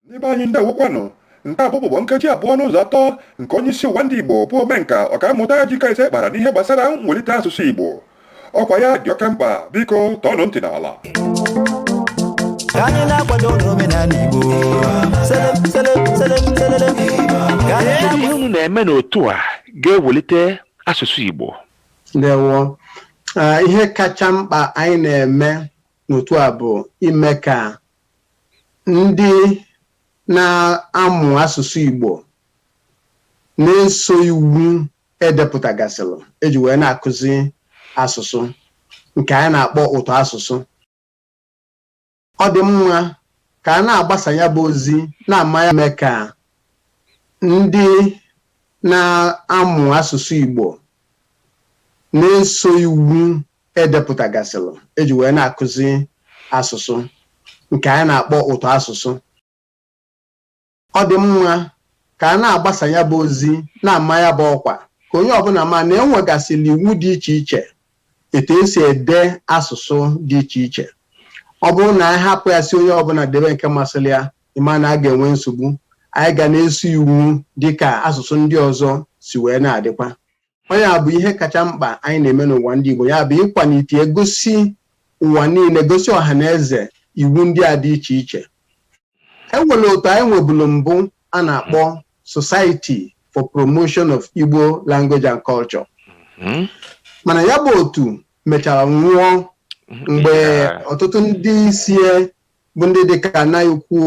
Ndị be anyị ndewokwanụ. Nke a bụ ụbụbọ nkeji abụọ n'ụzọ atọ nke onye isi ụwa ndị Igbo bụ omenka Ọkammụta Ejike Eze kpara n'ihe gbasara mwelite asụsụ Igbo. Ọkwa ya dị oke mkpa, biko tọọnụ ntị n'ala. Ka anyị na-akwado omenala Igbo. Selem, selem, selem, selelem. Ihe unu na-eme n'otu a ga-ewelite asụsụ Igbo. ndewo Ah, ihe kacha mkpa anyị na-eme n'otu a bụ ime ka ndị na-amụ asụsụ Igbo na-eso iwu edepụtagasịrị eji wee na-akụzi asụsụ nke anyị na-akpọ ụtọ asụsụ ọ dị mma ka a na-agbasa ya bụ ozi na-ama ya mee ka ndị na-amụ asụsụ Igbo na-eso iwu e depụtagasịrị eji wee na-akụzi asụsụ nke anyị na-akpọ ụtọ asụsụ ọ dị mma ka a na-agbasa ya bụ ozi na-ama ya bụ ọkwa ka onye ọbụla ma na enwegasịrị iwu dị iche iche etu esi ede asụsụ dị iche iche ọ bụrụ na anyị hapụ ya sị onye ọbụla debe nke masịrị ya ị ma na a ga-enwe nsogbu anyị ga na-eso iwu dịka asụsụ ndị ọzọ si wee na-adịkwa ọ nya bụ ihe kacha mkpa anyị na-eme n'ụwa ndị Igbo ya bụ ịkwalite gosi ụwa niile gosi ọha na eze iwu ndị a dị iche iche e nwere otu anyị nwebulu mbụ a na-akpọ Society for Promotion of Igbo Language and Culture Mhm. mana ya bụ otu mechara nwụọ mgbe ọtụtụ ndị isi bụ ndị dịka nna ukwu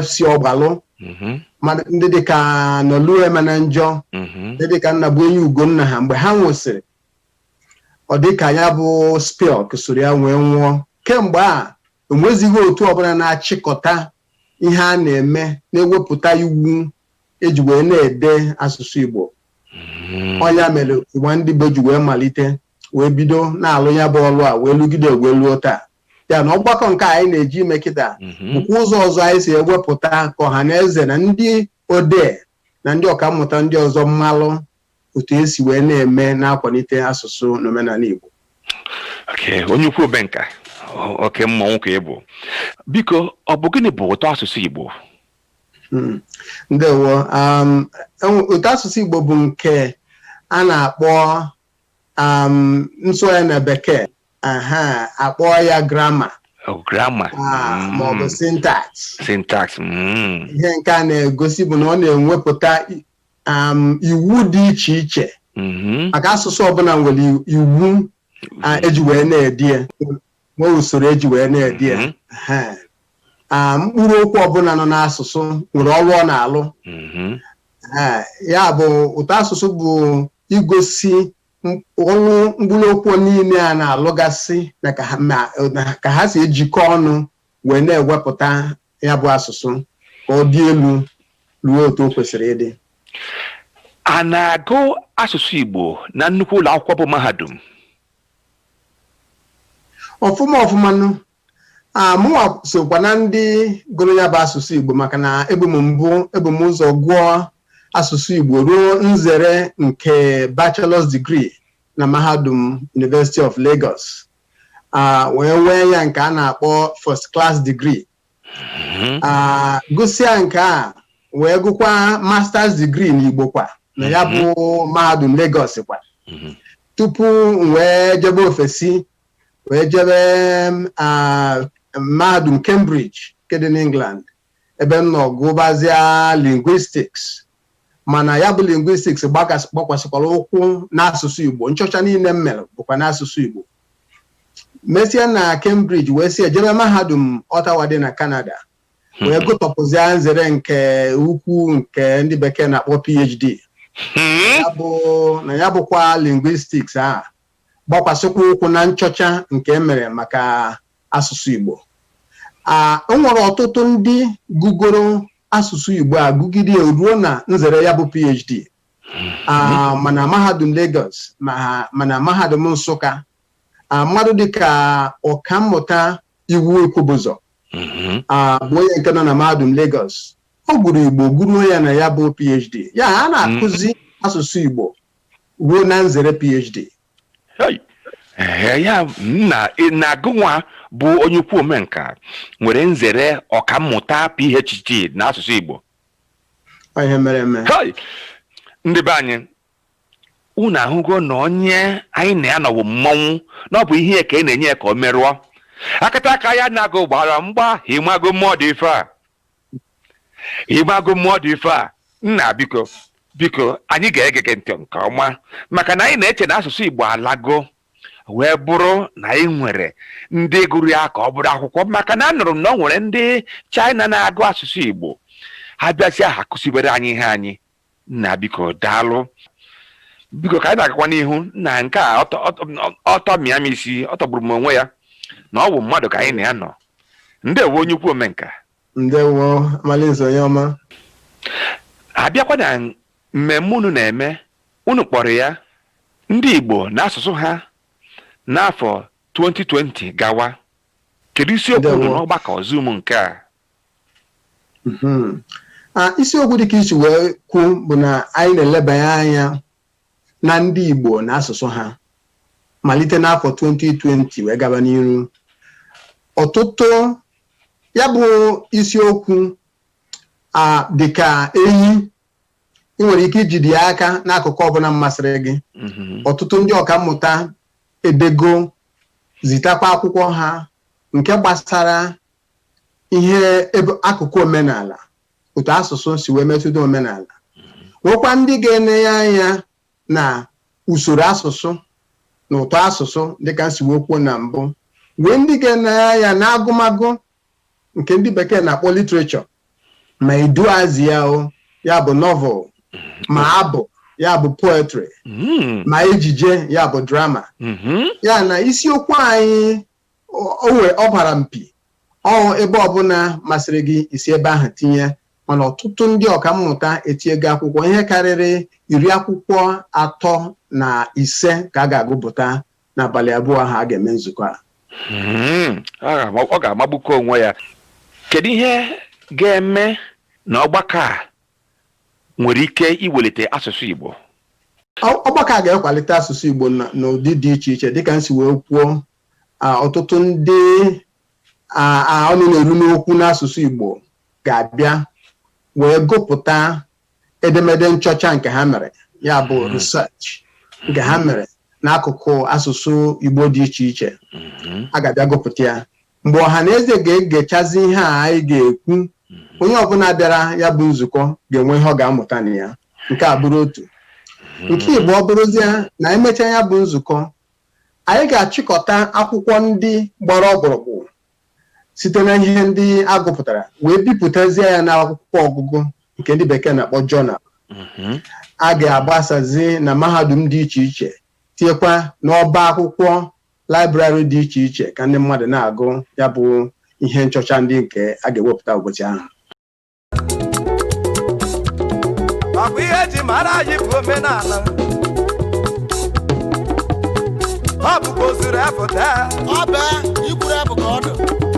FC Ọgbalụ mhm, ndị dịka Nolue Emenanjọ mhm, ndị dịka Nnabuenyi Ugonna ha mgbe ha nwụsịrị ọ dịka ya bụ SPILC soro ya wee nwụọ kemgbe a enwezighị otu ọbụla na-achịkọta ihe a na-eme na-ewepụta iwu eji wee na-ede asụsụ Igbo mhm. ọ nya mere ụwa ndị Igbo ji wee malite wee bido na-alụ ya bụ ọlụ a wee lụgide wee luo taa ya na ọgbakọ nke anyị na-eje ime kịta Mhm. bụkwa ụzọ ọzọ anyị si ewepụta ka ọha na eze na ndị odee na ndị ọkammụta ndị ọzọ malụ otu esi wee na-eme na-akwalite asụsụ na omenala Igbo Okay, onye ukwu omenka o- oke mmọnwụ ka ị bụ biko ọ bụ gịnị bụ ụtọ asụsụ Igbo Mm. ndewo um, enwe- ụtọ asụsụ Igbo bụ nke a na-akpọ um, nsụgharị na bekee aha a kpọọ ya grammar Oh, grammar. ah, Mm. ma ọ bụ syntax Syntax. Mm. ihe nke a na-egosi bụ na ọ na-enwepụta i- um, iwu dị iche iche Mhm. maka asụsụ ọbụla nwere i- iwu ah, eji wee na-ede ya nwee usoro eji wee na-ede ya Mhm. Aha. Ah, mkpụrụ okwu ọbụla nọ n'asụsụ nwere ọrụ ọ na-alụ Mhm. Aha. ya bụ ụtọ asụsụ bụ igosi ọrụ mkpụrụ okwu niile a na-alụgasị na ka ha ma na ka ha si ejikọ ọnụ wee na-ewepụta ya bụ asụsụ ka ọ dị elu ruo otu o kwesịrị ịdị a na-agụ asụsụ Igbo na nnukwu ụlọ akwụkwọ bụ mahadum ọfụma ọfụma nụ a mụnwa sokwa na ndị gụrụ ya bụ asụsụ Igbo maka na ebu m mbụ ebu m ụzọ gụọ asụsụ Igbo ruo nzere nke bachelor's degree na mahadum University of Lagos a wee nwee ya nke a na-akpọ first class degree a gụsịa nke a wee gụkwa master's degree n'Igbo kwa na ya bụ mahadum Lagos kwa tupu m wee jebe ofesi wee jebe mahadum Cambridge nke dị n'England ebe m nọ gụbazia linguistics mana ya bụ linguistics gbakwasịkwara ụkwụ n'asụsụ Igbo nchọcha niile m mere bụkwa n'asụsụ Igbo mesịa na Cambridge wee si ejebe mahadum Ottawa dị na Canada hmm. wee gụtọpụzia nzere nke ukwu nke ndị bekee na-akpọ PhD hmm. na ya bụkwa linguistics a gbakwasịkwa ụkwụ na nchọcha nke e mere maka asụsụ Igbo o nwere ọtụtụ ndị gụgoro asụsụ Igbo agụgide ruo na nzere ya bụ PhD hmm. ma na mahadum Lagos ma na mahadum Nsụka mmadụ dịka ọkammụta Iwu Ikwubụzọ hmm. bụ onye nke nọ na mahadum Lagos ọ gụrụ Igbo gụruo ya na ya bụ PhD ya a na-akụzi hmm. asụsụ Igbo ruo na nzere phd Hey! Ee, ya na na gụnwa bụ onye ukwu omenka nwere nzere ọkammụta phd n'asụsụ igbo Ọ ihe mere eme Hey! ndị be anyị unu ahụgo na onye anyị na ya nọ wụ mmọnwụ na ọ bụ ihe ya ka ị na-enye ya ka o merụọ akataka ya na agụ gbara mgba ị mago mmụọ dị ife a ị mago mmụọ dị ife a nna biko biko anyị ga-ege gị ntị nke ọma maka na anyị na-eche na asụsụ igbo alago wee bụrụ na anyị nwere ndị gụrụ ya ka ọ bụrụ akwụkwọ maka na anụrụ m na o nwere ndị China na-agụ asụsụ igbo ha bịasịa ha kụzibere anyị ihe anyị nna biko daalụ biko ka anyị na-agakwa n'ihu na nke a ọtọ- ọtọ- ọtọ mịa m isi ọ tọgburu m onwe ya na ọ bụ mmadụ ka anyị na ya nọ ndewo onye ukwu omenka ndewo Amalinze onye ọma a bịakwa na mmemme unu na-eme unu kpọrọ ya ndị igbo na asụsụ ha n'afọ 2020 gawa kedu isiokwu unu Ndewo. n'ọgbakọ zoom nke a Mhm. a isiokwu dịka i si wee kwuo bụ na anyị na-elebanye anya na ndị Igbo na asụsụ ha malite n'afọ 2020 wee gaba n'iru ọtụtụ ya bụ isiokwu a dịka enyi ị nwere ike ijide ya aka n'akụkụ ọbụla masịrị gị Mhm. ọtụtụ ndị ọka mmụta edego zitakwa akwụkwọ ha nke gbasara ihe ebe akụkụ omenala otu asụsụ si wee metụta omenala nwekwa ndị ga-ene ya anya na usoro asụsụ na ụtọ asụsụ dịka m si wee kwuo na mbụ nwee ndị ga-ene ya anya na agụmagụ nke ndị bekee na-akpọ literature ma iduuazị ya o ya bụ novel ma abụ ya bụ poetry Mm, ma ejije ya bụ drama mhm. ya na isiokwu anyị o nwere ọ gbara mpi ọ ebe ọbụla masịrị gị i si ebe ahụ tinye mana ọtụtụ ndị ọka mmụta etinyego akwụkwọ ihe karịrị iri akwụkwọ atọ na ise ka a ga-agụpụta n'abalị abụọ ahụ a ga-eme nzukọ a Mhm. Ọ ga-ama- ọ ga-amagbukọ onwe ya kedu ihe ga-eme na ọgbakọ a nwere ike iwelite asụsụ Igbo. Ọgbakọ a ga-ekwalite asụsụ Igbo n'ụdị dị iche iche dịka m si wee kwuo ọtụtụ ndị ọnụ na-eru n'okwu n'asụsụ Igbo ga-abịa wee gụpụta edemede nchọcha nke ha mere ya bụ hmm. research nke ha hmm. mere n'akụkụ asụsụ Igbo dị iche iche hmm. a ga-abịa gụpụta ya mgbe ọha na eze ga-egechazi ihe a anyị ga-ekwu onye ọbụla bịara ya bụ nzukọ ga-enwe ihe ọ ga-amụta na ya nke a bụrụ otu nke ịbụọ ọ bụrụzie na e mechaa ya bụ nzukọ anyị ga-achịkọta akwụkwọ ndị gbara ọkpụrụkpụ site na ihe ndị a gụpụtara wee bipụtazie ya n'akwụkwọ ọgụgụ nke ndị bekee na-akpọ journal a ga-agbasazi na mahadum dị iche iche tinyekwa n'ọba akwụkwọ laịbrarị dị iche iche ka ndị mmadụ na-agụ ya bụ ihe nchọcha ndị nke a ga-ewepụta ụbọchị ahụ ọ bụ ihe eji mara anyị bụ omenala ọ bụkwa ozuru apụta ọ bụ ikwuru abụ ka ọ dụ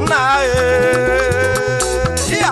nna anyị ya